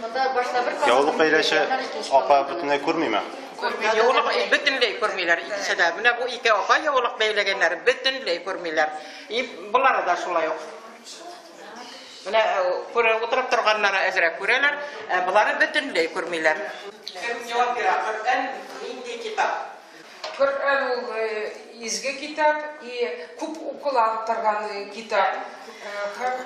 Яулык бәйләче апа бөтенләй күрмиме? Яулык бөтенләй күрмиләр икесе дә. Менә бу ике апа яулык бәйләгәннәр, бөтенләй күрмиләр. И болар да шулай ук. Менә э, күрә утырып торганнары әзрәк күрәләр, ә болары бөтенләй күрмиләр. Кем җавап бирә? Коръән нинди китап? Коръән ул э, изге китап и күп укыла торган э, китап. Һәм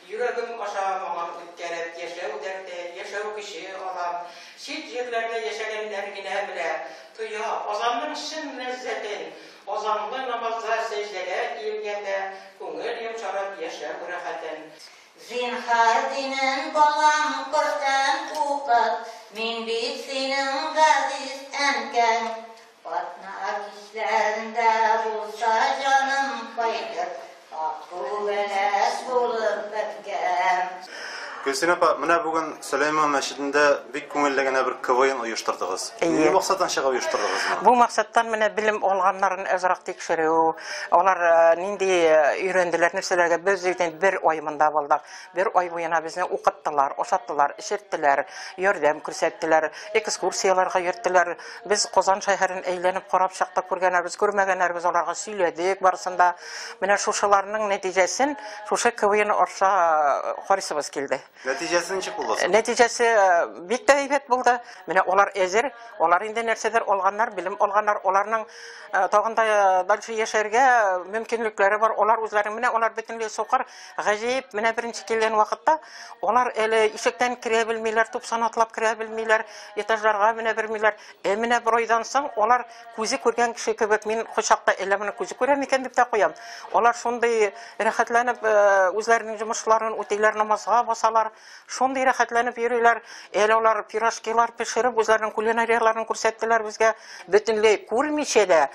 Йөрәгем аша моңым үткәреп Яшәү дәрте, яшәү көче алам. Чит җирләрдә яшәгәннәр генә белә, тоя Азанның чын ләззәтен. Азанлы намазда сәҗдәгә иелгәндә Күңел йомшарып яшәү рәхәтен. Зинһар динен балам Коръән укыт Мин бит синең газиз әнкәң. Атна кичләрендә булса җаным кайтып, Акбу бәләс булып беткән. Гөлсинә апа, менә бүген Сөләйман мәчетендә бик күңелле генә бер КВН оештырдыгыз. Нинди максаттан чыгып оештырдыгыз моны? Бу максаттан менә белем алганнарын азрак тикшерү, алар э, нинди э, өйрәнделәр нәрсәләргә. Без бер ай монда булдык. Бер ай буена безне укыттылар, ашаттылар, эчерттеләр, ярдәм күрсәттеләр, экскурсияләргә йөрттеләр. Без Казан шәһәрен әйләнеп карап чыктык, күргәннәребез, күрмәгәннәребез аларга сөйләдек барысын да. Менә шушыларның нәтиҗәсен шушы КВН аша карыйсыбыз килде. Нәтиҗәсе ничек булды соң? Нәтиҗәсе бик тә әйбәт булды. Менә алар әзер, алар инде нәрсәдер алганнар, белем алганнар, аларның тагын да дальше яшәргә мөмкинлекләре бар. Алар үзләре, менә алар бөтенләй сукыр, Гаҗәеп, менә беренче килгән вакытта алар әле ишектән керә белмиләр, тупсан атлап керә белмиләр, этажларга менә белмиләр. Ә менә бер айдан соң алар күзе күргән кеше кебек, мин кочакта әллә моны күзе күрә микән дип тә куям. Алар шундый рәхәтләнеп э, үзләренең җомышларын үтиләр, намазга басалар, шундый рәхәтләнеп йөриләр. Әле алар пирожкилар пешереп, үзләренең кулинарияләрен күрсәттеләр безгә. Бөтенләй күрмичә дә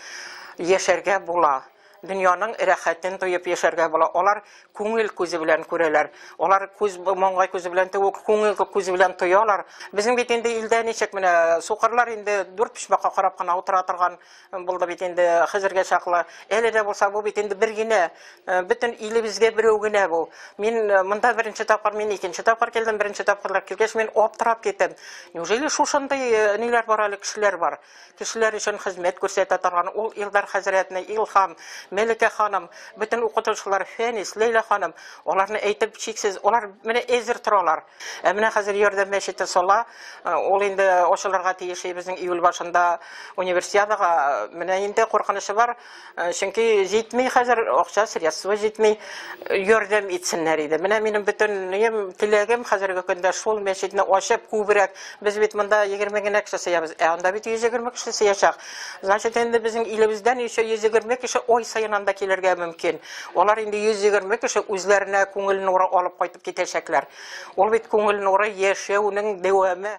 яшәргә була. Дөньяның рәхәтен тоеп яшәргә була. Алар күңел күзе белән күрәләр. Алар күз, маңгай күзе белән түгел, күңел күзе белән тоялар. Безнең бит инде илдә ничек менә сукырлар инде дүрт почмакка карап кына утыра торган булды бит инде хәзергә чаклы. Әле дә булса бу бит инде бер генә, э, бөтен илебезгә берәү генә бу. Мин э, монда беренче тапкыр, мин икенче тапкыр килдем, беренче тапкырлар килгәч мин аптырап киттем. Неужели шушындый э, ниләр бар әле кешеләр бар? Кешеләр өчен хезмәт күрсәтә торган ул Илдар хәзрәтне Илһам, Мәликә ханым, бөтен укытучылар, Фәнис, Ләйлә ханым, аларны әйтеп чиксез, алар менә әзер торалар. Ә менә хәзер Ярдәм мәчете сала, э, ул инде ачылырга тиеш, безнең июль башында универсиадага, менә инде куркынычы бар. Э, чөнки җитми хәзер акча средства җитми э, ярдәм итсеннәр иде менә минем бөтен теләгем хәзерге көндә шул мәчетне ачып күбрәк без бит монда егерме генә кеше сыябыз ә анда бит йөз егерме кеше сыячак значит инде безнең илебездән еще йөз егерме кеше ай саен анда килергә мөмкин алар инде йөз егерме кеше үзләренә күңел нуры алып кайтып китәчәкләр ул бит күңел нуры яшәүнең дәвамы